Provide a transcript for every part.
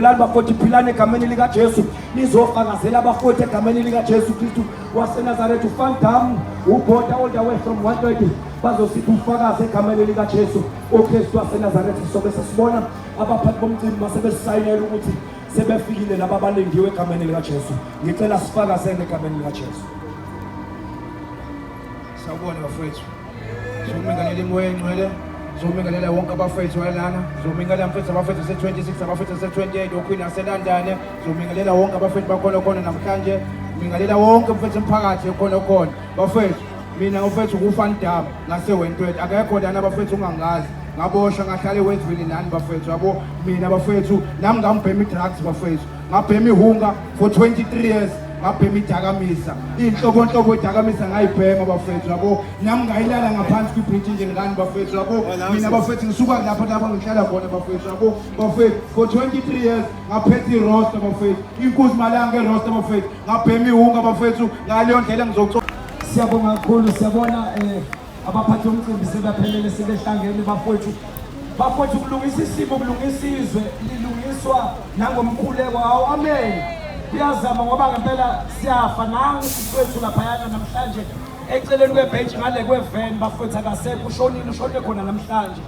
Philani bafowethu, philani egameni likaJesu. Nizofakazela abafowethu egameni likaJesu Kristu waseNazaretha. UVan Damme, uBota all the way from 130 bazosipha ubufakazi egameni likaJesu uKristu waseNazaretha. Sobe sesibona abaphathi bomcimbi basebesisayinela ukuthi sebefikile laba abalindiwe egameni likaJesu. Ngicela sifakazele egameni likaJesu. Sawubona bafowethu. Zomingalela imoya engcwele zomingalela wonke abafethu walana zomingalela mfethu abafethu se-26 abafethu se-28 okhwini aselandane zomingalela wonke abafethu bakhona khona namhlanje mingalela wonke mfethu emphakathi ekhona khona bafethu mina ufethu kufanidam ngasewentwet akekho lana bafethu ungangazi ngabosha ngahlale wezwini nani bafethu yabo mina bafethu nami ngambhema i-drugs bafethu ngabhema ihunga for 23 years ngabhema idakamisa iy'nhlobonhlobo idakamisa ngayibhema bafethu yabo nami ngayilala ngaphansi kwibhriji nje ngani bafethu yabo oh, mina bafethu ngisuka lapho lapho ngihlala khona bafethu yabo bafethu for 23 years ngaphetha irosta bafethu inkuzi malanga erosta bafethu ngabhema iwunga bafethu ngaleyo ndlela ngizocoo siyabonga kakhulu siyabona um abaphathi omcimbi sebaphelele sebehlangene bafowethu bafowethu kulungisa isimo kulungisa izwe lilungiswa nangomkhuleko hawu amen kuyazama ngoba ngempela siyafa nangu siswethu laphayana namhlanje eceleni kwebhentshi ngale kweveni bafowethu akasekho ushonile ushonile khona namhlanje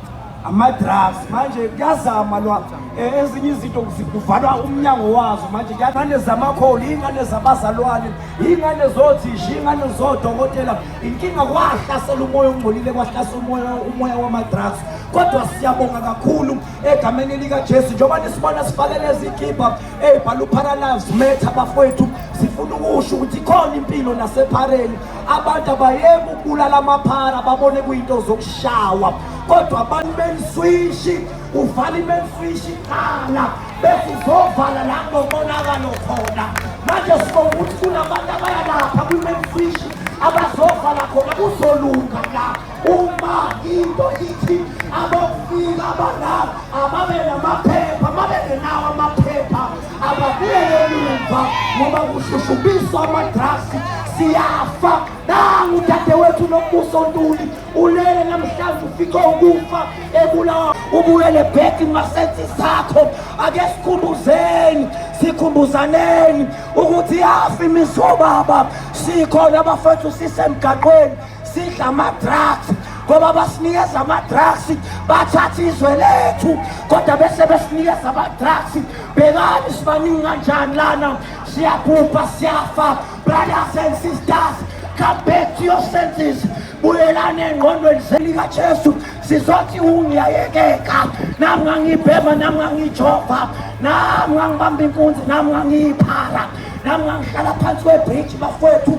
amadrugs manje kuyazama lwa eh, ezinye izinto kuvalwa umnyango wazo manje ingane zamakholi iy'ngane zabazalwane iy'ngane zothisha iy'ngane zodokotela inkinga kwahlasela umoya ongcolile kwahlasela umoya umoya wamadrugs kodwa siyabonga kakhulu egameni likajesu njengoba nisibona sifake lezi kibha ey'bhala uparalyze metha bafowethu sifuna ukusho ukuthi khona impilo nasephareni abantu abayeke ukubulala amaphara babone kuyinto zokushawa kodwa abantu beniswishi uvale imeniswishi qala bese uzovala la kunomonakalo khona manje sibonga ukuthi kunabantu abayalapha kwimeniswishi abazovala khona kuzolunga la uma into ithi abokufika abadala ababe namaphepha mabengenawo amaphepha ababuyele emuva ngoba kushushubiswa amadrasi siyafa nangu udadewethu nombuso ntuli ulele namhlanje ufice ukufa ebulawa ubuyele bheki ngasensi sakho ake sikhumbuzeni sikhumbuzaneni ukuthi yafi imizobaba sikhona abafethu sisemgaqweni sidla ama-drugs ngoba basinikeza ama-drugs bathatha izwe lethu kodwa bese besinikeza ama-drugs bhekani sibaningi kanjani lana siyabhubha siyafa brothers and sisters come back to your senses buyelani engqondweni selikajesu sizothi ungiyayekeka nami ngangibhema nami ngangijova nami ngangibamba inkunzi nami ngangiyiphara nami ngangihlala phansi kwebhriji bafowethu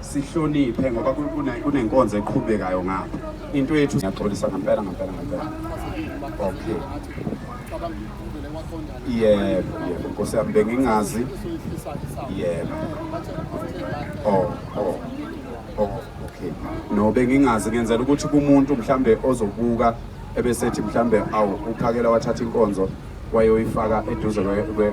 sihloniphe ngoba kunenkonzo eqhubekayo ngapha into yethu ngiyaxolisa ngempela ngempela ngempela okay yebo yebo nkosi yami bengingazi yebo oh oh oh okay no bengingazi ngenzela ukuthi kumuntu mhlambe ozobuka ebesethi mhlambe awu uphakela wathatha inkonzo wayoyifaka eduze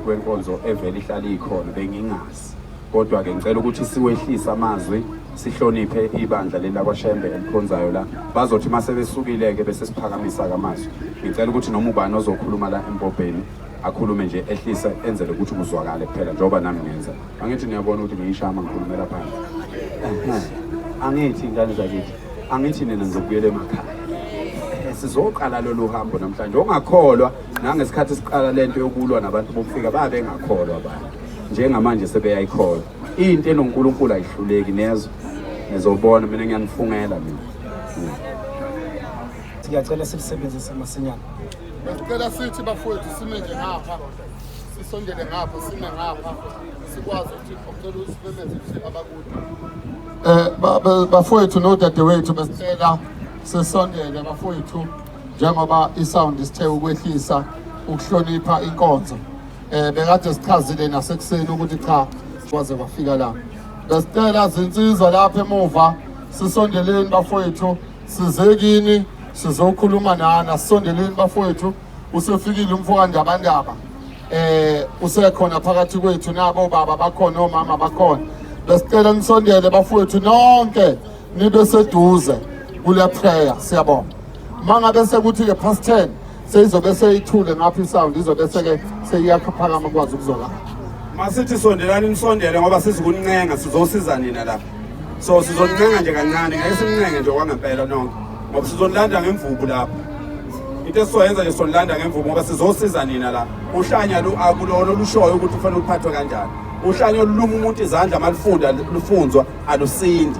kwenkonzo evele ihlale ikhona bengingazi Kodwa ke ngicela ukuthi siwehlise amazwi sihloniphe ibandla leli lakwaShembe elikhonzayo la bazothi uma sebesukile-ke bese siphakamisa kamazwi ngicela ukuthi noma ubani ozokhuluma la embobheni akhulume nje ehlise enzele ukuthi kuzwakale kuphela njengoba nami ngenza angithi niyabona ukuthi ngiyishama ngikhulumela phansi angithi ingane zakithi angithi nina ngizokubuyela emakhaya sizoqala lolu hambo namhlanje ongakholwa nangesikhathi siqala le nto yokulwa nabantu bokufika babengakholwa abantu njengamanje sebeyayikholwa into enonkulunkulu ayihluleki nezwe nizobona mina ngiyanifungela mina siyacela silisebenzise masinyana besicela sithi bafowethu sime nje ngapha sisondele ngapha sime ngapha sikwazi ukuthi ocela usimemeze ukuthi abakude um bafowethu nodadewethu besicela sisondele bafowethu njengoba isound isithe ukwehlisa ukuhlonipha inkonzo eh bekade sichazile nasekuseni ukuthi cha kwaze kwafika la besicela zinsizwa lapha emuva sisondeleni bafowethu sizekini sizokhuluma nani asisondeleni bafowethu usefikile umfowandabandaba eh usekhona phakathi kwethu nabo baba bakhona omama bakhona besicela nisondele bafowethu nonke nibe seduze kule prayer siyabonga mangabe sekuthi-ke past ten seyizobe seyithule ngapha isound izobe seke seyiyakhaphakama kwazi ukuzolala masithi sondelani nisondele ngoba sizikuncenga sizosiza nina lapha so sizoncenga nje kancane ngeke simncenge nje kwangempela nonke ngoba sizonilanda ngemvubu lapha into esizoyenza nje sonilanda ngemvubu ngoba sizosiza nina la uhlanya lu akulona olushoyo ukuthi kufanele uphathwe kanjani uhlanya oluluma umuntu izandla malufunda lufunzwa alusindi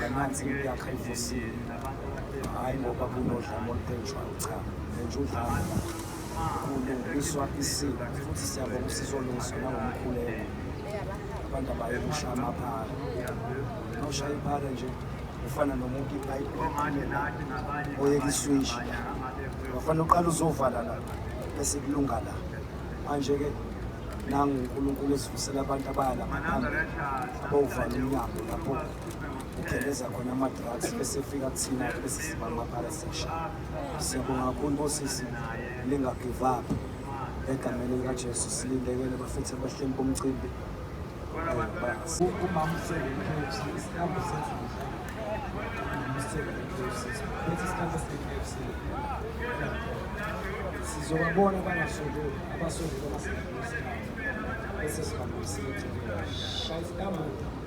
Namanzi yakha ivusile. Hayi ngoba kunodlame olupentshwayo cha. Nentsha udlame. Kulungiswa isiko futhi siyabonga usizolungiswa nangomkhuleko. Abantu abayokusha amaphara. Noshaya iphara nje ufana nomuntu ipayipi oyeka iswishi wafanele uqala uzovala la bese kulunga la manje-ke nangu unkulunkulu ezivusela abantu abayala ngaphambi abawuvala umnyango lapho kugeleza khona ama-drugs bese efika kuthina bese siba amabhala sesha siyabonga kakhulu bosisi lingagive up egameni likajesu silindekele bafethu abahleli bomcimbi sizobabona bangasondeli abasondeli abasebenzisa bese sihambisile shayisa kamuva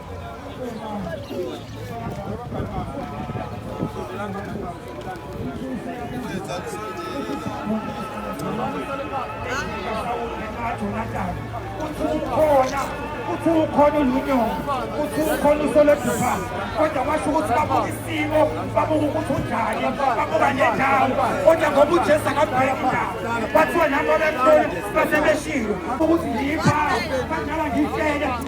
ukhona uthi ukhona ulunyongo uthi ukhona usolodupha kodwa kwasho ukuthi babuka isimo babuka ukuthi unjani babuka nendawo kodwa ngoba ujesu akabheka indawo bathiwa nabo bemhloli basebeshilo ukuthi ngipha badlala ngitshele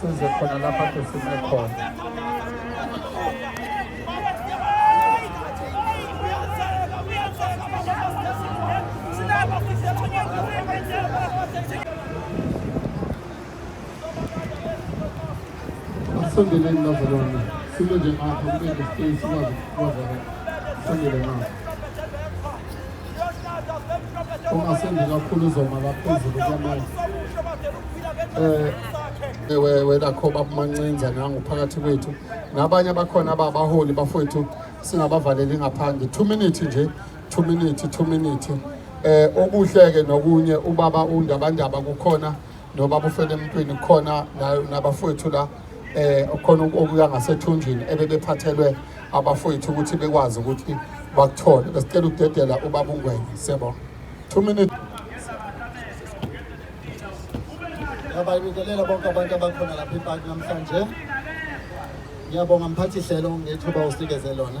size khona lapha ke sime khona Asondeleni bazalwane, sime nje ngapha kube nespace sikwazi ukubazana. Sandele ngapha. Ungasendi kakhulu uzoma la phezulu kwamanye. Eh we we lakho babumancinza nangu phakathi kwethu. Nabanye abakhona ababaholi bafowethu singabavaleli ngaphandle. 2 minutes nje, 2 minutes, 2 minutes. Eh okuhle ke nokunye ubaba undabandaba kukhona nobaba ufele emntwini khona nabafowethu la eh khona okuya ngasethunjini ebebephathelwe abafowethu ukuthi bekwazi ukuthi bakuthole besicela ukudedela ubaba ungwenya siyabona 2 minutes Ngiyabingelela bonke abantu abakhona lapha ePark namhlanje. Ngiyabonga mphathi hlelo ngethuba usikeze lona.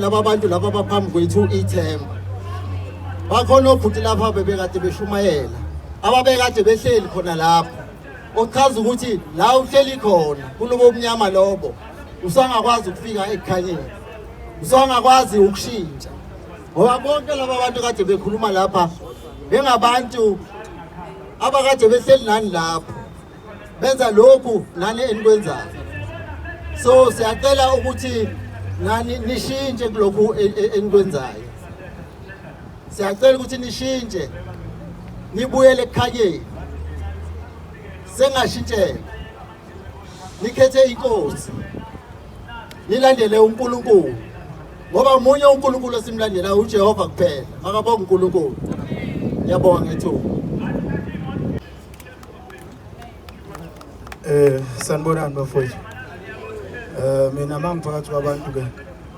laba bantu laba baphambi kwethu ithemba bakhona obhuti lapha bebekade beshumayela ababekade behleli khona lapho ochaza ukuthi la uhleli khona kulobo obumnyama lobo usangakwazi ukufika ekukhanyeni usangakwazi ukushintsha ngoba bonke laba bantu kade bekhuluma lapha bengabantu abakade behleli nani lapho benza lokhu nani enikwenzayo so siyacela ukuthi nani nishintshe kulokhu e, e, enikwenzayo siyacela ukuthi nishintshe nibuyele ekukhanyeni sengashintshela nikhethe inkosi nilandele uNkulunkulu ngoba umunye uNkulunkulu esimlandela uJehova kuphela makabonga uNkulunkulu yabonga ngethuba Eh sanibonani bafowethu. Eh mina mangiphakathi kwabantu ke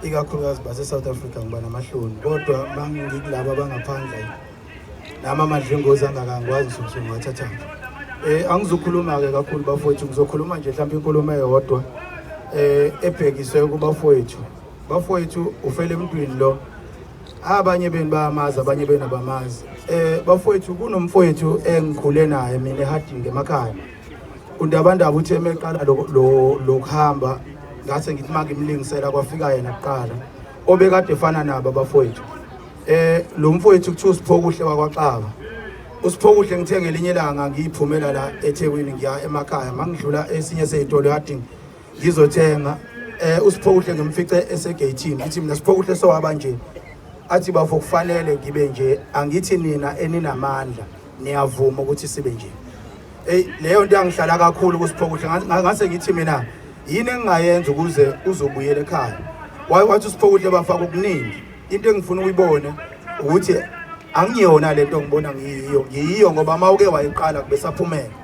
ikakhulukazi base South Africa ngiba namahloni kodwa mangikulabo abangaphandle nama madlingozi angakangwazi ukuthi ngiwathatha. Eh angizokhuluma ke kakhulu bafowethu ngizokhuluma nje mhlawumbe inkulumo eyodwa eh ebhekiswe kubafowethu. Bafowethu ufele emntwini lo abanye benu bayamazi abanye benu abamazi eh bafowethu kunomfowethu engikhule naye mina ehadingi emakhaya undabandaba uthe emeqala lokuhamba ngase ngithi manje imlingisela kwafika yena kuqala obekade efana nabo abafowethu eh lo mfowethu kuthiwa usiphokuhle wakwaxaba usiphokuhle ngithenge elinye ilanga ngiyiphumela la eThekwini ngiya emakhaya mangidlula esinye sezitolo yadinga ngizothenga eh usiphokuhle ngimfice esegeyithini ngithi mina siphokuhle sowaba nje athi bafo kufanele ngibe nje angithi nina eninamandla niyavuma ukuthi sibe nje hey leyo nto yangihlala kakhulu kusiphokuhle ngase ngithi mina yini engingayenza ukuze uzobuyela ekhaya waye wathi usiphokuhle bafaka okuningi into engifuna uyibone ukuthi angiyona lento ngibona ngiyiyo ngiyiyo ngoba mawuke wayiqala kubesaphumela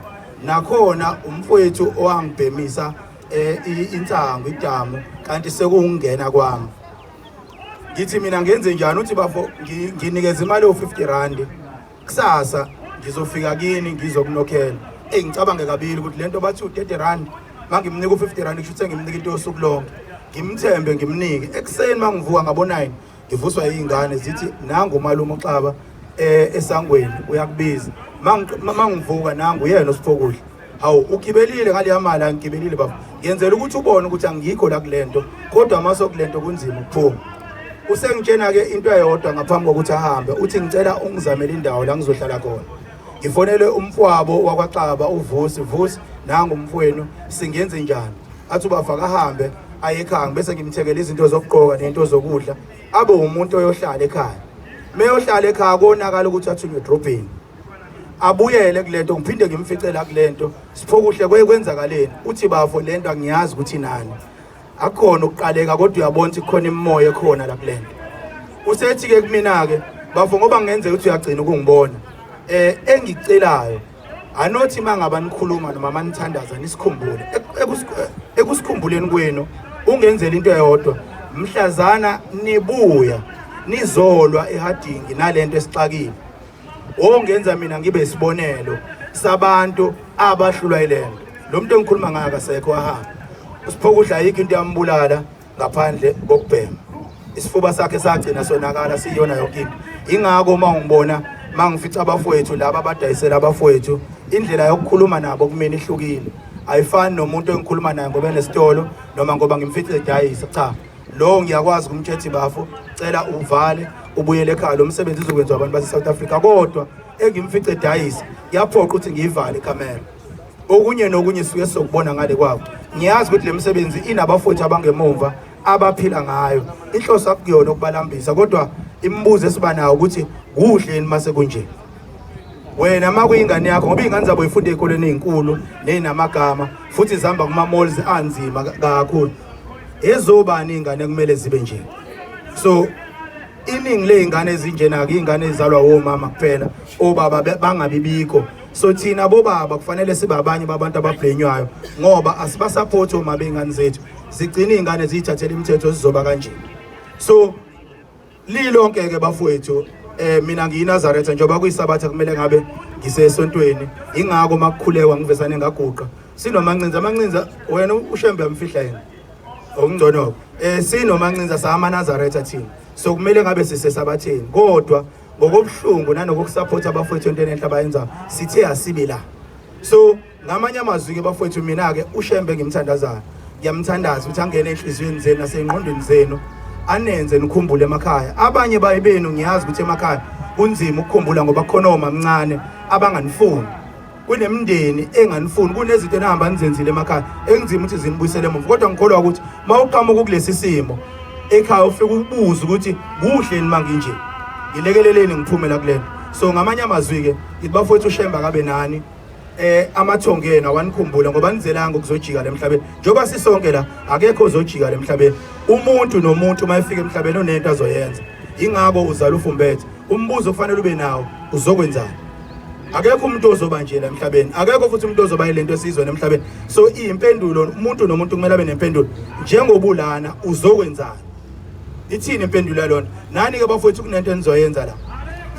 nakhona umfowethu owangibhemisa eh, insangu idamu kanti sekungena kwami ngithi mina ngenze njani uthi bafo nginikeza imali yo-50 randi kusasa ngizofika kini ngizokunokhela eyi ngicabange kabili ukuthi le nto bathi u-30 randi ma ngimnika u-50 randi kusho ukuthi ngimnika into yosuku lonke ngimthembe ngimnike ekuseni ma ngivuka ngabo-nine ngivuswa iy'ngane zithi nangu umalume uxaba eh, esangweni uyakubiza mangivuka nangu uyena osifokudla hawu ugibelile ngaleya mali angigibelile baba ngenzela ukuthi ubone ukuthi angikho la kule nto kodwa amaso kule nto kunzima ukuphuma usengitshena-ke into eyodwa ngaphambi kokuthi ahambe uthi ngicela ungizamele indawo la ngizohlala khona ngifonele umfowabo wakwaxaba uvusi vusi nangu umfowenu singenze njani athi ubava kahambe aye ekhaya bese ngimthengela izinto zokugqoka nento zokudla abe umuntu oyohlala ekhaya meyohlala ekhaya konakala ukuthi athunywe edrobheni abuyele kulento ngiphinde ngimficela kulento siphokuhle kweyenzakaleni uthi bafo lento angiyazi ukuthi nani akukhona ukuqaleka kodwa uyabona ukuthi kukhona imimoya ekhona la kulento usethi ke kumina ke bafo ngoba ngenzeka ukuthi uyagcina ukungibona eh engicelayo anothi mangaba nikhuluma noma manithandaza nisikhumbule ekusikhumbuleni kwenu ungenzela into eyodwa mhlazana nibuya nizolwa ehadingi nalento esixakile ongenza mina ngibe isibonelo sabantu abahlulwa ilento lo muntu engikhuluma ngayo akasekho wahamba usiphokudla ayikho into yambulala ngaphandle kokubhema isifuba sakhe sagcina sonakala siyona yonke into ingako uma ungibona mangifica abafowethu laba abadayisela abafowethu indlela yokukhuluma nabo kumina ihlukile ayifani nomuntu engikhuluma naye ngoba enesitolo noma ngoba ngimfice edayisa cha lowo ngiyakwazi kumthethi bafo cela uvale ubuyele ekhaya lo msebenzi uzokwenziwa abantu base-south africa kodwa engimfice dayisa kuyaphoqa ukuthi ngiyivale ikhamera okunye nokunye suke sokubona ngale kwabo ngiyazi ukuthi le misebenzi inabafuthi abangemumva abaphila ngayo inhloso akuyona ukubalambisa kodwa imibuzo esiba nayo ukuthi kuhle yini mase kunje wena uma kuyingane yakho ngoba iy'ngane zabo yifunda ey'koleni ey'nkulu ney'namagama futhi zihamba kuma-malls anzima kakhulu ezobani iy'ngane kumele zibe nje so iningi ley'ngane ezinjena-ke iy'ngane ezizalwa womama kuphela obaba bangabi bikho so thina bobaba kufanele sibe abanye babantu ababhenywayo ngoba asibasaphothi omama bey'ngane zethu zigcine iy'ngane ziyithathela imithetho zizoba kanjena so Lilonke ke bafowethu eh mina ngiyinazaretha njengoba kuyisabatha kumele ngabe ngisesontweni ingako makukhulekwa ngivesane ngaguqa sinomancinza amancinza wena ushembe amfihla yena okungcono eh sinomancinza sama nazaretha thina so kumele ngabe sisesabatheni kodwa ngokobuhlungu nanokusupport abafowethu entweni enhle abayenza sithe asibi la so ngamanye amazwi ke bafowethu mina ke ushembe ngimthandazayo ngiyamthandaza ukuthi angene enhliziyweni zenu nasengqondweni zenu anenze nikhumbule emakhaya abanye baye benu ngiyazi ukuthi emakhaya kunzima ukukhumbula ngoba khona omamncane abanganifuni kunemndeni enganifuni kunezinto enihamba nizenzile emakhaya ekunzima ukuthi zinibuyisele emuva kodwa ngikholwa ukuthi uma uqhamuka ukulesi simo ekhaya ufike ubuze ukuthi kuhle nima nginje ngilekeleleni ngiphumela kulena so ngamanye amazwi-ke ngithi bafowethu ushemba kabe nani eh amathongo enu awanikhumbule ngoba nizelanga ukuzojika lemhlabeni njengoba sisonke la akekho ozojika lemhlabeni umuntu nomuntu uma efika emhlabeni onento azoyenza ingakho uzala ufumbethe umbuzo kufanele ube nawo uzokwenzani akekho umuntu ozoba nje la emhlabeni akekho futhi umuntu ozoba ilento esizwe nemhlabeni so impendulo umuntu nomuntu kumele abe nempendulo njengobulana uzokwenzani Ithini impendulo yalona? Nani ke bafowethu kunento enizoyenza la.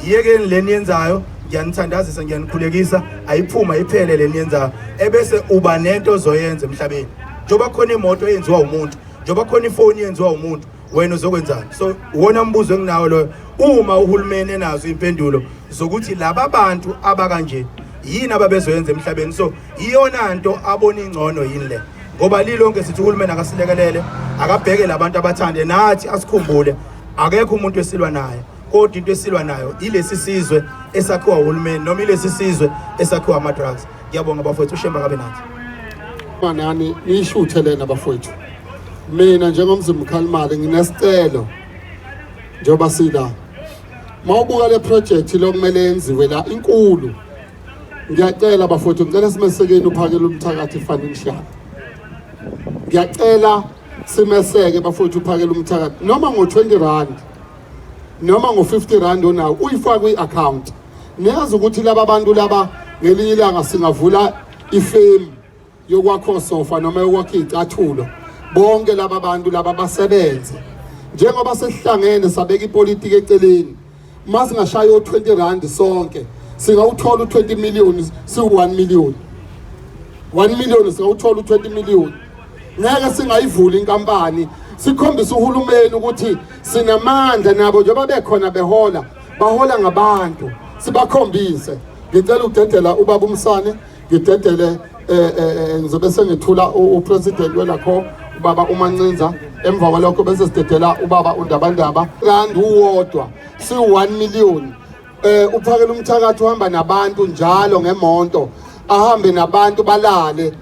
Yiyekeni leni yenzayo ngiyanithandazisa ngiyanikhulekisa ayiphuma iphele leni yenzayo ebese uba nento ozoyenza emhlabeni. Njoba khona imoto eyenziwa umuntu, njoba khona ifoni yenziwa umuntu, wena uzokwenzani so wona mbuzo enginawo loyo uma uhulumeni enazo impendulo zokuthi laba bantu abakanje yini ababezoyenza emhlabeni so iyona nto abona ingcono yini le ngoba lilonke sithi uhulumeni akasilekelele akabheke labantu abathande nathi asikhumbule akekho umuntu esilwa naye kodwa into esilwa nayo ilesi sizwe esakhiwa uhulumeni noma ilesi sizwe esakhiwa ama-drugs ngiyabonga bafowethu ushemba kabe nathi manani niyishuthe lena bafowethu mina njengomzimba ukhalimali nginesicelo njengoba sila mawubuka le project lokumele yenziwe la inkulu ngiyacela bafowethu ngicela simesekeni uphakele umthakathi ifanele shaka ngiyacela simeseke bafowethu uphakele umthakathi noma ngo-20 rand noma ngo-50 rand onawo uyifake kwi-account niyazi ukuthi laba bantu laba ngelinye ilanga singavula ifemu yokwakha osofa noma yokwakha iy'cathulo bonke laba bantu laba basebenze njengoba sesihlangene sabeka ipolitiki eceleni uma singashaya o-20 rand sonke singawuthola u-20 million siwu-1 million 1 million singawuthola u-20 million ngeke singayivuli inkampani sikhombisa uhulumeni ukuthi sinamandla nabo njengoba bekhona behola bahola ngabantu sibakhombise ngicela udedela ubaba umsane ngidedele eh, eh, eh, ngizobe sengithula upresident welakho ubaba umancinza emva kwalokho bese sidedela ubaba undabandaba kanti uwodwa siwu-1 million eh uphakela umthakathi uhamba nabantu njalo ngemonto ahambe nabantu balale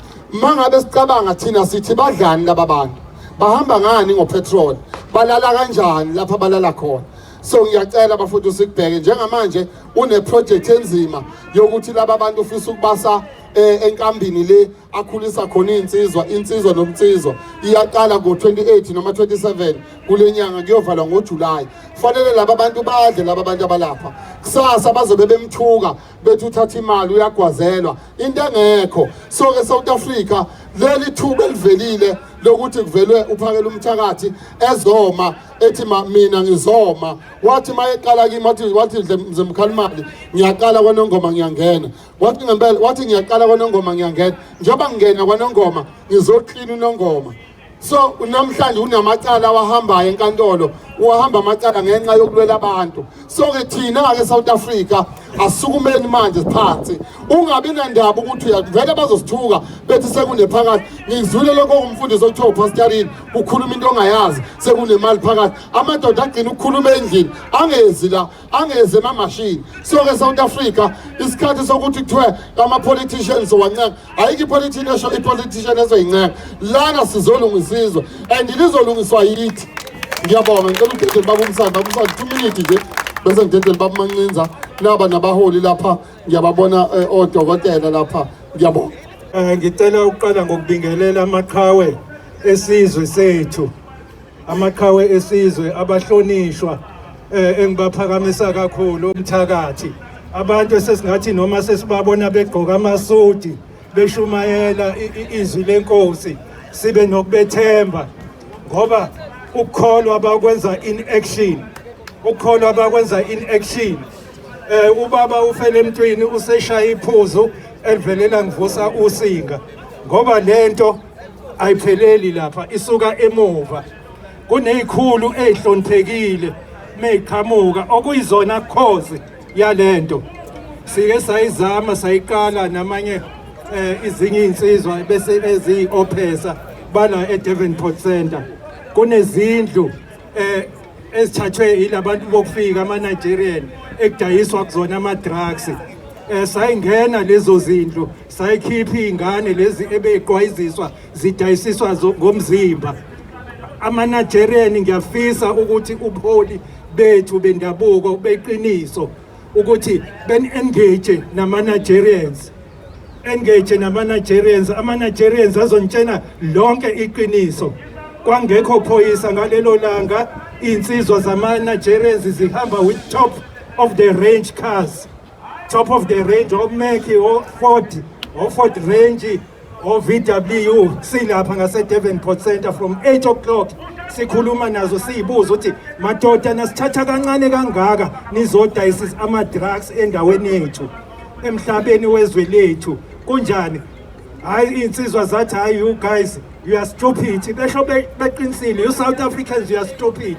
mangabe sicabanga thina sithi badlani laba bantu bahamba ngani ngopetrol balala kanjani lapha balala khona so ngiyacela bafuthu sikubheke njengamanje uneprojekthi enzima yokuthi laba bantu ufisa ukubasa eh, enkambini le akhulisa khona iy'nsizwa insizwa nomnsizwa iyaqala ngo-28 noma 27 kule nyanga kuyovalwa ngojulayi kufanele laba bantu badle laba bantu abalapha kusasa bazobe bemthuka bethi uthatha imali uyagwazelwa into engekho so-ke south africa leli thuba elivelile lokuthi kuvelwe uphakela umthakathi ezoma ethi ma mina ngizoma wathi mayeqala kimi wathi wathi mze mkhalimali ngiyaqala kwanongoma ngiyangena wathi ngempela wathi ngiyaqala kwanongoma ngiyangena njengoba ngingena kwanongoma ngizoklina unongoma so namhlanje unamacala awahambayo enkantolo uwahamba amacala ngenxa yokulwela abantu so ke thina-ke south africa asukumeni manje siphansi ungabi nandaba ukuthi uyavele bazosithuka bethi sekunephakathi ngizwile lokho kumfundisi okuthiwa upasitarini ukhuluma into ongayazi sekunemali phakathi amadoda agcina ukukhuluma endlini angezi la angezi emamashini so-ke south africa isikhathi sokuthi kuthiwe ama-politicians wancenga ayikho ipolitini esho ipolitician ezoyincenga lana sizolungisa izwe and lizolungiswa yithi ngiyabonga ngicela udedeli babumsana babumsana two minute nje bese ngidedeli babumancinza naba nabaholi lapha ngiyababona eh, odokotela lapha ngiyabonga um ngicela ukuqala ngokubingelela amaqhawe esizwe sethu amaqhawe esizwe abahlonishwa eh, engibaphakamisa kakhulu umthakathi abantu esesingathi noma sesibabona begqoka amasudi beshumayela izwi lenkosi sibe nokubethemba ngoba ukukholwa bakwenza in action ukukholwa bakwenza in action eh ubaba ufele emntwini useshaya iphuzu elivelela ngivusa usinga ngoba lento ayipheleli lapha isuka emuva kunezikhulu ezihloniphekile meqhamuka okuyizona cause yalento sike sayizama sayiqala namanye eh, izinye insizwa bese eziyi ophesa bala eDevonport Center kunezindlu eh ezithathwe yilabantu bokufika ama Nigerian ekudayiswa kuzona ama drugs eh sayingena lezo zindlu sayikhipha izingane lezi ebeqwayiziswa zidayisiswa ngomzimba ama Nigerian ngiyafisa ukuthi ubuholi bethu bendabuko beqiniso ukuthi ben engage nama Nigerians engage nama-nigerians ama-nigerians azontshena lonke iqiniso kwangekho phoyisa ngalelo langa iy'nsizwa zama-nigerians zihamba with top of the range cars top of the range omeki oford oford range ovw silapha ngasedevenport center from 8 o'clock sikhuluma nazo siyibuza ukuthi madoda nasithatha kancane kangaka nizodayisa ama-drugs endaweni yethu emhlabeni wezwe lethu kunjani hayi iy'nsizwa zathi hayi you guys you are stupid besho beqinisile you south africans you are stupid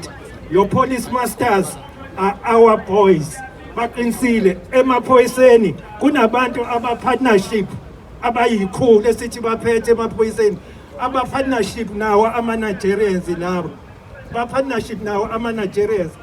your police masters are our boys baqinisile emaphoyiseni kunabantu abapartnership abayikhulu esithi baphethe emaphoyiseni abapartnership nawo ama-nigerians labo bapartnership nawo ama-nigerians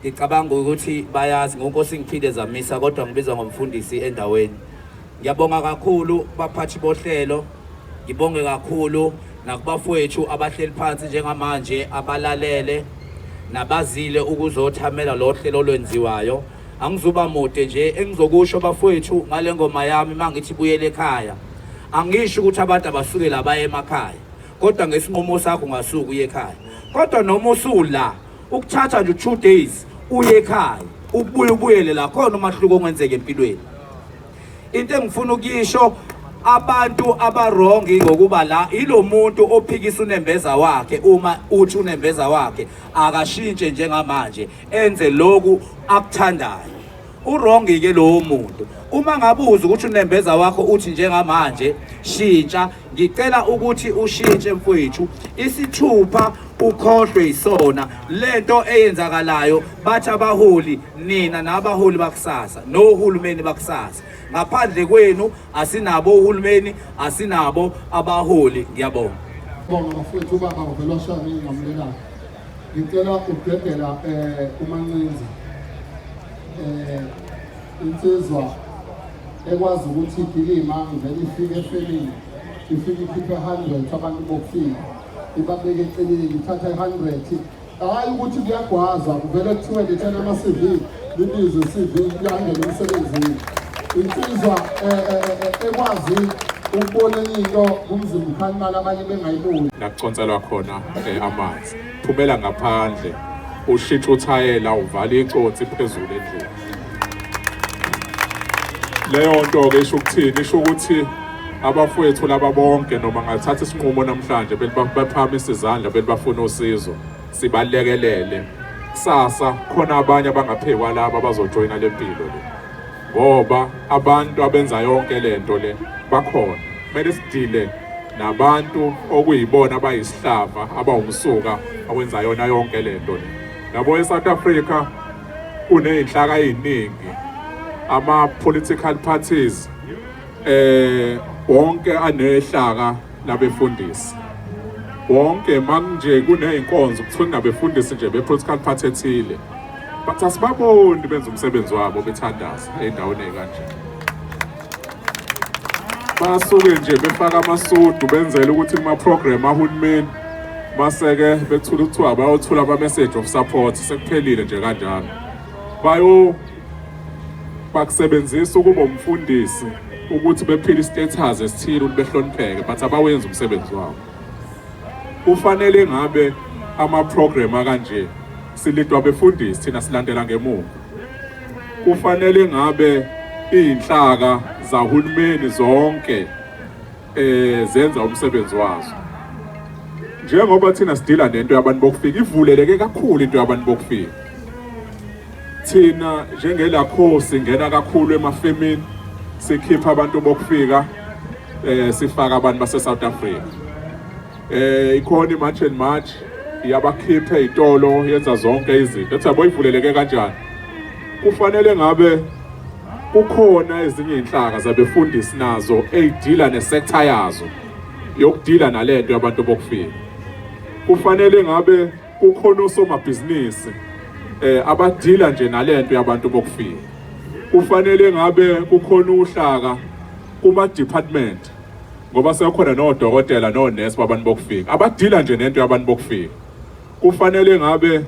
Ngicabanga ukuthi bayazi ngonkosi ngiphinde zamisa kodwa ngibizwa ngomfundisi endaweni. Ngiyabonga kakhulu baphathi bohlelo. Ngibonge kakhulu nakubafowethu abahleli phansi njengamanje abalalele nabazile ukuzothamela lo hlelo olwenziwayo. Angizuba mude nje engizokusho bafowethu ngale ngoma yami mangithi buyele ekhaya. Angisho ukuthi abantu abasuke la baye emakhaya kodwa ngesinqumo sakho ungasuka uye ekhaya. Kodwa noma usula ukuthatha nje two days uye ekhaya ukubuye ubuyele la khona umahluko ongenzeka empilweni into engifuna ukuyisho abantu abarongi ngokuba la ilo muntu ophikisa unembeza wakhe uma uthi unembeza wakhe akashintshe njengamanje enze loku akuthandayo Urongi ke lowo muntu uma ngabuza ukuthi unembeza wakho uthi njengamanje shintsha ngicela ukuthi ushintshe mfowethu isithupha ukhohlwe isona lento eyenzakalayo bathi abaholi nina nabaholi bakusasa nohulumeni bakusasa ngaphandle kwenu asinabo uhulumeni asinabo abaholi ngiyabonga bonga mfowethu ubaba uvelwashani ngamlelana Ngicela ukudedela eh umancinza eh insizwa ekwazi ukuthi igilima ngivele ifike efemini ifike ikhiphe 100 abantu bokufika ibabeke eceleni ithatha i-100 hhayi ukuthi kuyagwazwa kuvele kuthiwe lethela ama-cv lilizwe CV yangena emsebenzini insizwa eh, eh, eh, ekwazi ukubona into kumzimba ukhalimala abanye bengayiboni nakuconselwa khona amanzi phumela ngaphandle ushintsha uthayela uvala icotsi phezulu endlini leyo nto-ke isho ukuthini isho ukuthi abafowethu laba bonke noma ngathatha isinqumo namhlanje belibaphama isizandla belibafuna usizo sibalekelele kusasa khona abanye abangaphekwa laba abazojoyina le mpilo le ngoba abantu abenza yonke le nto le bakhona kumele sidile nabantu okuyibona abayisihlava abawumsuka awenza yona yonke le nto le yabo e-south africa kuney'nhlaka ey'ningi ama-political parties eh wonke anehlaka nabefundisi bonke manje kuney'nkonzo kuthiwa kunabefundisi nje be-political party ethile but asibaboni benza umsebenzi wabo bethandaza ey'ndaweni ey'kanje basuke nje befaka amasudu benzele ukuthi kuma-program ahulumeni base-ke bethula kuthiwa bayothula ama-message of support sekuphelile nje kanjalo bayo bakusebenzisa ukuba umfundisi ukuthi bephile istatus esithile ukuthi behlonipheke but abawenzi umsebenzi wabo kufanele ngabe ama-program akanje silidwa befundisi thina silandela ngemuva kufanele ngabe iy'nhlaka zahulumeni zonke eh zenza umsebenzi wazo njengoba thina sidila nento yabantu bokufika ivuleleke kakhulu into yabantu bokufika Thina njengelakho singena kakhulu emafemini sikhipha abantu bokufika eh sifaka abantu base South Africa. Eh ikhona iMarch and March iyabakhipha izitolo yenza zonke izinto. Ethi yabo ivuleleke kanjani? Kufanele ngabe kukhona ezinye inhlaka zabefundisi nazo eyidila nesector yazo yokudila nalento yabantu bokufika. Kufanele ngabe Kukhona osomabhizinisi eh abadila nje nalento yabantu bokufika. Kufanele ngabe kukhona uhlaka kuma department ngoba sekhona nodokotela nonesi babantu bokufika abadila nje nento yabantu bokufika kufanele ngabe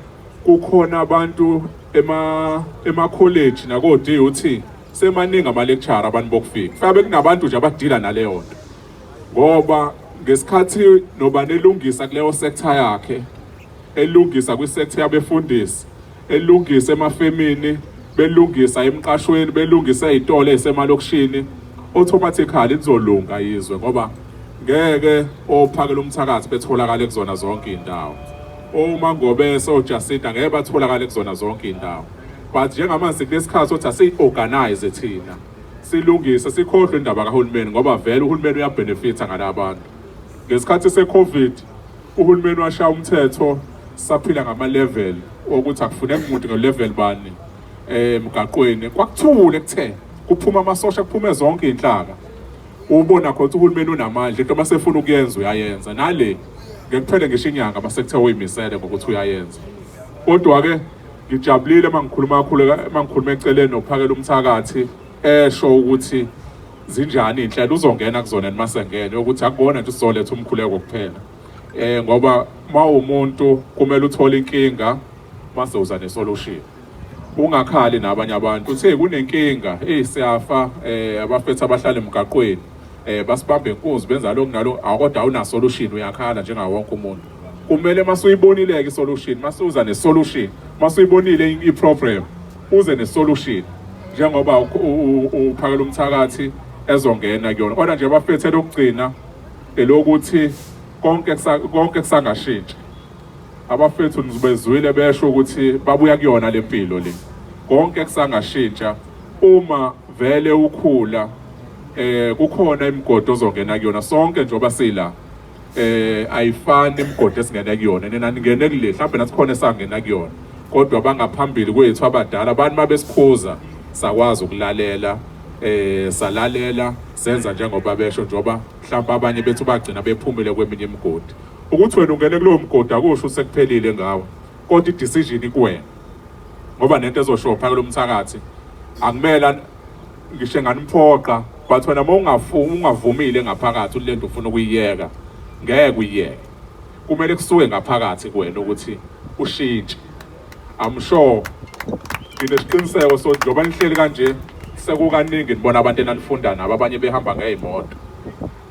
kukhona abantu ema ema college nako DUT semaningi ama lecture abantu bokufika fabe kunabantu nje abadila naleyo nto ngoba ngesikhathi nobani elungisa kuleyo sector yakhe elungisa kwi-sector yabefundisi elungisa emafemini belungisa emqashweni belungisa izitolo ezisemalokishini automatically lizolunga izwe ngoba ngeke ophakela umthakathi betholakala kuzona zonke izindawo uma ngobe sojasita ngeke batholakala kuzona zonke izindawo but njengamanje kulesikhathi sothi asiyi-organize thina silungise sikhohlwe indaba kahulumeni ngoba vele uhulumeni uyabenefitha ngala abantu ngesikhathi se-covid uhulumeni washaya umthetho saphila ngama-level okuthi akufuneki muntu ngo-level bani eh, emgaqweni kwakuthule kuthe kuphuma amasosha kuphume zonke iy'nhlaka ubona khona ukuthi uhulumeni unamandla into uma sefuna ukuyenza uyayenza nale ngekuphele ngisho inyanga uma sekuthe uyimisele ngokuthi uyayenza kodwa-ke Ngijabulile uma ngikhuluma kakhulu uma ngikhuluma eceleni nokuphakela umthakathi esho ukuthi zinjani inhlelo uzongena kuzona noma sengene ukuthi akubona nje usizoletha umkhuleko kuphela eh ngoba uma umuntu kumele uthole inkinga mase uza nesolution ungakhali nabanye abantu uthe kunenkinga eh siyafa eh abafethu abahlala emgaqweni eh basibambe inkunzi benza lokho nalo akodwa awuna solution uyakhala njengawo wonke umuntu kumele masuyibonile-ke isolution masuza nesolution masuyibonile i-problem uze nesolution njengoba uphakela umthakathi ezongena kuyona kodwa nje bafethe lokugcina elokuthi konke konke kusangashintshi abafethu nizibezwile besho ukuthi babuya kuyona lempilo le konke kusangashintsha uma vele ukhula eh kukhona imigodo ozongena kuyona sonke njengoba sila eh ayifani imigodi esingena kuyona nina ningene kule mhlawumbe nasikhona esangena kuyona kodwa bangaphambili kwethu abadala abantu mabesikhuza sakwazi ukulalela eh salalela senza njengoba besho njoba mhlawumbe abanye bethu bagcina bephumile kweminye imigodi ukuthi wena ungene kulowo mgodi akusho usekuphelile ngawo kodwa i-decision ikuwena ngoba nento ezoshopha kulo mthakathi akumele ngisho enganimphoqa but wena uma ungafuni ungavumile ngaphakathi ulento ufuna ukuyiyeka ngeke uyiyeke kumele kusuke ngaphakathi kuwena ukuthi ushintshe i'm sure nginesiqiniseko so njengoba nihleli kanje sekukaningi nibona abantu enanifunda nabo abanye behamba ngey'moto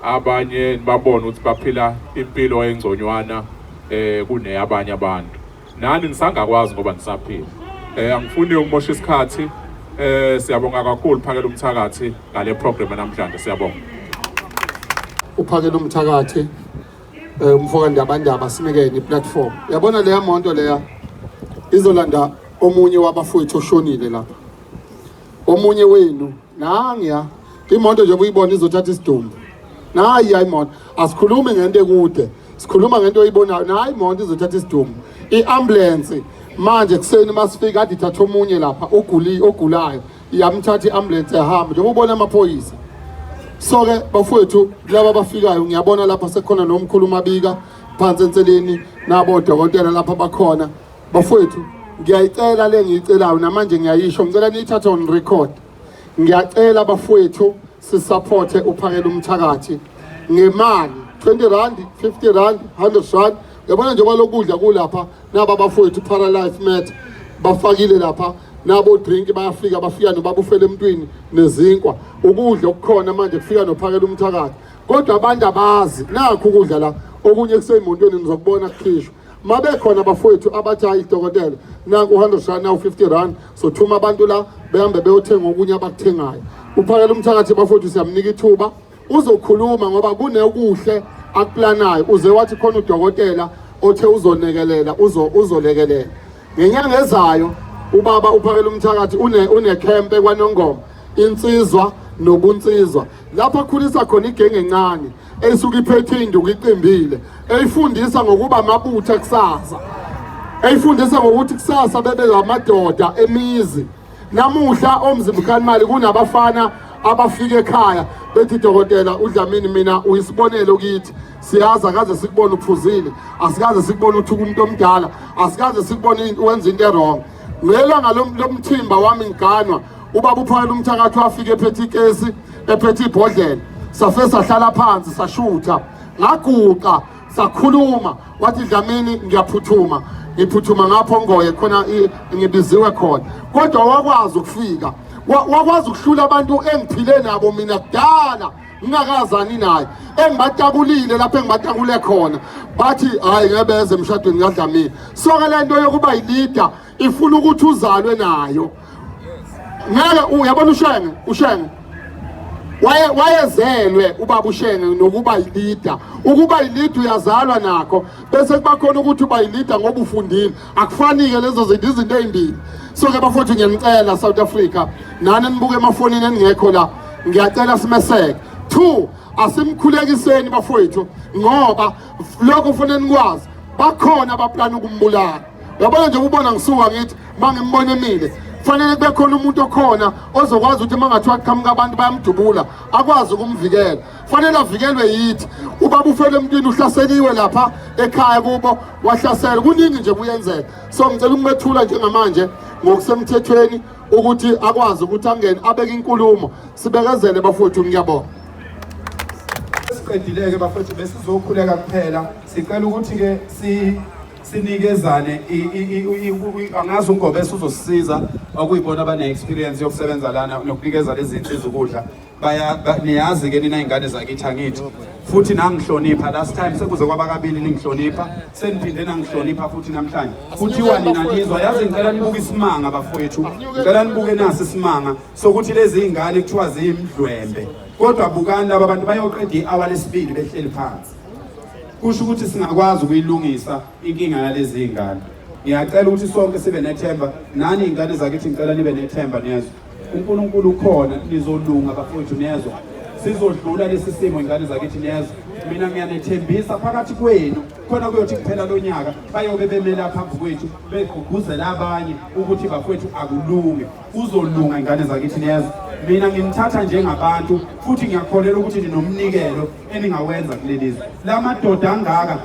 abanye nibabona ukuthi baphila impilo engconywana um kuneyabanye abantu nani nisangakwazi ngoba nisaphila eh angifuni ukumosha isikhathi eh siyabonga kakhulu phakela umthakathi ngale program namhlanje siyabonga uphakela umthakathi eh umfoka ndabandaba sinikeni iplatform yabona leya monto leya izolanda omunye wabafowethu oshonile lapha omunye wenu nangiya imoto nje buyibona izothatha isidumbu nayi imoto asikhulume ngento ekude sikhuluma ngento oyibonayo nayi imonto izothatha isidumo i-ambulensi manje kuseni uma sifika ade ithatha omunye lapha oguli ogulayo iyamthatha i-ambulensi ehamba njengoba ubona amaphoyisa so-ke bafowethu laba abafikayo ngiyabona lapha sekhona nomkhulu umabika phansi enseleni nabo dokotela lapha bakhona bafowethu ngiyayicela le ngiyicelayo namanje ngiyayisho ngicela niyithathe on record ngiyacela bafowethu sisaphothe uphakela umthakathi ngemali 20 rand 50 rand 100 rand yabona njengoba lokudla kulapha naba bafowethu paralife matter bafakile lapha nabo drink bayafika bafika nobabufela emntwini nezinkwa ukudla okukhona manje kufika nophakela umthakathi kodwa abantu abazi nakho ukudla la okunye kuseyimontweni nizokubona kukhishwa mabekhona bafowethu abathi hayi dokotela naku 100 rand nawu 50 rand sothuma abantu la behambe beyothenga okunye abakuthengayo uphakela umthakathi bafowethu siyamnika ithuba uzokhuluma ngoba kunekuhle akuplanayo uze wathi khona udokotela othe uzonekelela uzolekelela ngenyanga ezayo ubaba uphakela umthakathi unekhempe kwanongoma insizwa nobunsizwa lapho akhulisa khona igenge encane esuke iphethe induku iqimbile eyifundisa ngokuba amabutha kusasa eyifundisa ngokuthi kusasa bebe ngamadoda emizi namuhla omzimkhanimali kunabafana abafika ekhaya bethi dokotela udlamini mina uyisibonelo kithi siyazi akaze sikubone uphuzile asikaze sikubone uthuka umuntu omdala asikaze sikubone wenza into erong Ngelanga lomthimba wami ngiganwa ubaba uphakela umthakathi wafika ephethe ikesi ephethe ibhodlela safe sahlala phansi sashutha ngaguqa sakhuluma wathi dlamini ngiyaphuthuma ngiphuthuma ngapho ngoye khona ngibiziwe khona kodwa wakwazi ukufika wakwazi ukuhlula abantu engiphile nabo mina kudala ngingakazani naye engibatakulile lapho engibatakule khona bathi hhayi ngebeze emshadweni kadlamini soke le nto yokuba yilida ifuna ukuthi uzalwe nayo ngeke uyabona ushenge ushenge waye wayezelwe ubaba ushenge nokuba yilida ukuba yilida uyazalwa nakho bese kuba khona ukuthi uba yilida ngoba ufundile akufanike lezo zinto izinto ezimbili so ke bafowethu ngiyanicela South Africa nani nibuke emafonini eningekho la ngiyacela simeseke two asimkhulekiseni bafowethu ngoba lokho kufanele nikwazi bakhona abaplana ukumbulala yabona nje ubona ngisuka ngithi mangimbona emile kufanele kube khona umuntu okhona ozokwazi ukuthi mangathiwa qhamuka abantu bayamdubula akwazi ukumvikela fanele avikelwe yithi ubaba ufele emntwini uhlaseliwe lapha ekhaya kubo wahlasela kuningi nje kuyenzeka so ngicela ukumethula njengamanje ngokusemthethweni ukuthi akwazi ukuthi angene abeke inkulumo sibekezele bafowethu ngiyabonga siqedileke bafowethu besizokhuleka kuphela sicela ukuthi-ke si sinikezane angazi ungobese uzosisiza okuyibona abane-experience yokusebenza lana nokunikeza lezi zinsiza ukudla baya niyazi ke nina ingane zakithi angithi futhi nangihlonipha last time sekuze kwabakabili ningihlonipha seniphinde nangihlonipha futhi namhlanje kuthiwa nina nizwa yazi ngicela nibuke isimanga bafowethu ngicela nibuke nasi isimanga sokuthi lezi ingane kuthiwa ziyimdlwembe kodwa bukani laba bantu bayoqeda i-hour lesibili behleli phansi kusho ukuthi singakwazi ukuyilungisa inkinga yalezi ingane ngiyacela ukuthi sonke sibe nethemba nani ingane zakithi ngicela nibe nethemba niyezwa uNkulunkulu ukhona nizolunga bafowethu nezwa sizodlula lesi simo ingane zakithi nezwa mina ngiyanethembisa phakathi kwenu khona kuyothi kuphela lo nyaka bayobe bemela phambi kwethu begqugquzela abanye ukuthi bafowethu akulunge kuzolunga ingane zakithi nezwa mina nginithatha njengabantu futhi ngiyakholelwa ukuthi ninomnikelo eningawenza kuleli zwe la madoda angaka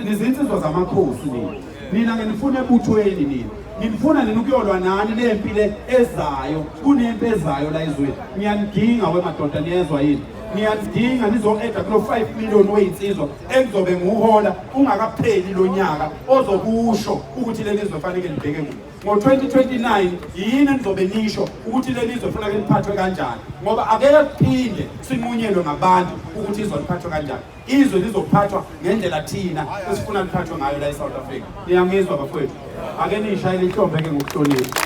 nizinsizwa zamakhosi nina nina nginifuna ebuthweni nina nginifuna nina ukuyolwa nani le mpi le ezayo kunempi ezayo la ezweni ngiyanidinga wemadoda niyezwa yini niyazidinga nizo-eda kulo 5 million weyinsizwa ekuzobe nguhola ungakapheli lo nyaka ozokusho ukuthi leli zwe faneke libheke kuyo ngo-2029 yini enizobe nisho ukuthi leli zwe funake liphathwe kanjani ngoba akeke kuphinde sinqunyelwe ngabantu ukuthi izwa liphathwe kanjani izwe lizophathwa ngendlela thina esifuna liphathwe ngayo la e-south africa niyangizwa bafowethu ake niyishayele ihlombe ke ngokuhlonipha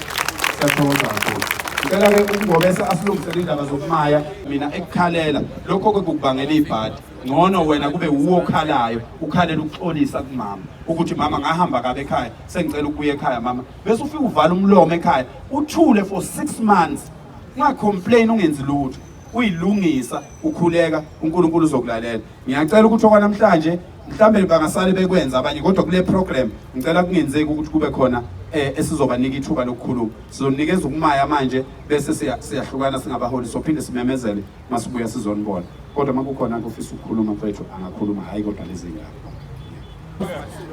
siyathokoza kakhulu ngicela ke ukungobesa asilungisele indaba zokumaya mina ekukhalela lokho ke kukubangela ibhadi ngcono wena kube wuwo okhalayo ukhalela ukuxolisa kumama ukuthi mama ngahamba kabe ekhaya sengicela ukubuya ekhaya mama bese ufike uvala umlomo ekhaya uthule for six months ungacomplain ungenzi lutho uyilungisa ukhuleka uNkulunkulu uzokulalela ngiyacela ukuthi okwanamhlanje mhlawumbe bangasale bekwenza abanye kodwa kule program ngicela kungenzeki ukuthi kube khona eh esizobanika ithuba lokukhuluma sizonikeza ukumaya manje bese siyahlukana singabaholi sophinde simemezele masibuya sizonibona kodwa makukhona kufisa ukukhuluma mfethu angakhuluma hayi kodwa lezingane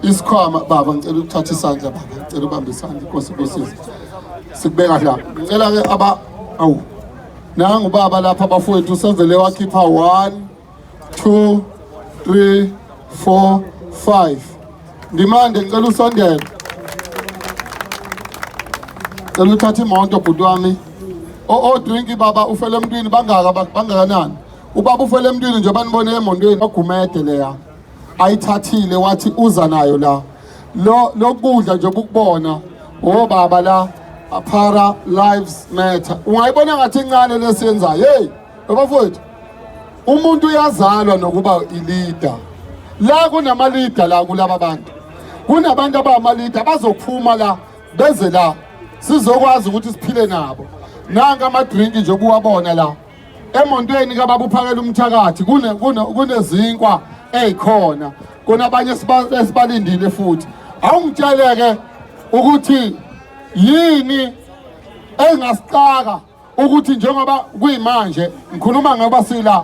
isikhwama baba ngicela ukuthatha isandla baba ngicela ubambe isandla inkosi kusiza sikubeka la ngicela ke aba awu nangu baba lapha bafowethu usevele wakhipha 1 2 3 4 5 ndimande ngicela usondele cela uthatha imoto bhuti wami odrinki baba ufele emntwini bangaka bangakanani ubaba ufele emntwini nje banibone emontweni bagumede leya ayithathile wathi uza nayo la lo lokudla nje ukubona obaba la aphara lives matter ungayibona ngathi incane lesiyenzayo hey bafowethu umuntu uyazalwa nokuba ilida la kunamalida la kulaba bantu kunabantu abamalida bazophuma la beze la sizokwazi ukuthi siphile nabo nanka amadrinki nje kuwabona la emontweni kababa uphakela umthakathi kunezinkwa ezikhona kunabanye esibalindile futhi awungitsheleke ukuthi yini engasixaka ukuthi njengoba kuyimanje ngikhuluma ngoba sila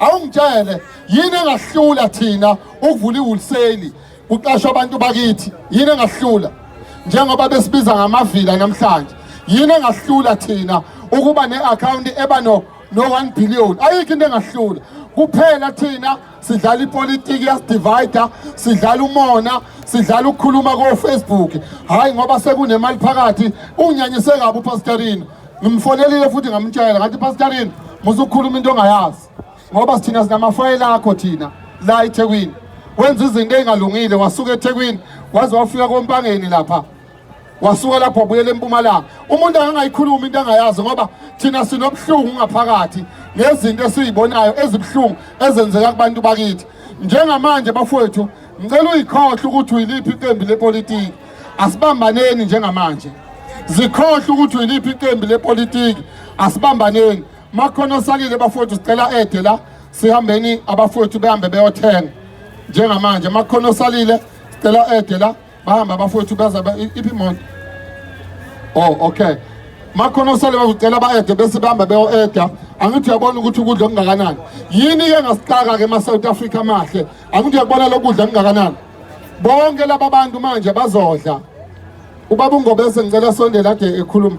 awungitshele yini engahlula thina ukuvula iwholesale kuqashwa abantu bakithi yini engahlula njengoba besibiza ngamavila namhlanje yini engahlula thina ukuba ne-akhawunti eba no no-one billion ayikho into engahlula kuphela thina sidlala ipolitiki yasidivayida sidlala umona sidlala ukukhuluma kofacebook hhayi ngoba sekunemali phakathi unyanyise kabi upastorina Ngimfonelile futhi ngamtshela ngathi pastorini musukhuluma into ongayazi ngoba sithina sinamafayela akho thina la eThekwini wenza izinto ezingalungile wasuka eThekwini waze wafika kompangeni lapha wasuka lapho wabuyela empumalanga umuntu angangayikhuluma into angayazi ngoba thina sinobuhlungu ngaphakathi ngezinto esizibonayo ezibuhlungu ezenzeka kubantu bakithi njengamanje bafowethu Ngicela uyikhohle ukuthi uyiliphi iqembu lepolitiki. Asibambaneni njengamanje. Zikhohle ukuthi uyiliphi iqembu lepolitiki. Asibambaneni. Makhona osalile bafowethu sicela ede la sihambeni abafowethu behambe beyothenga. Njengamanje makhona osalile sicela ede la bahamba abafowethu beza iphi imoto. Oh okay. Makhona osale bazocela ba-ede bese bahamba beyo-eda angithi uyabona ukuthi ukudla okungakanani yini-ke ngasixaka-ke ma-south africa mahle Angithi uyakubona lokudla kungakanani. Bonke laba bantu manje bazodla. Ubaba uNgobese ngicela sondela ade ekhuluma.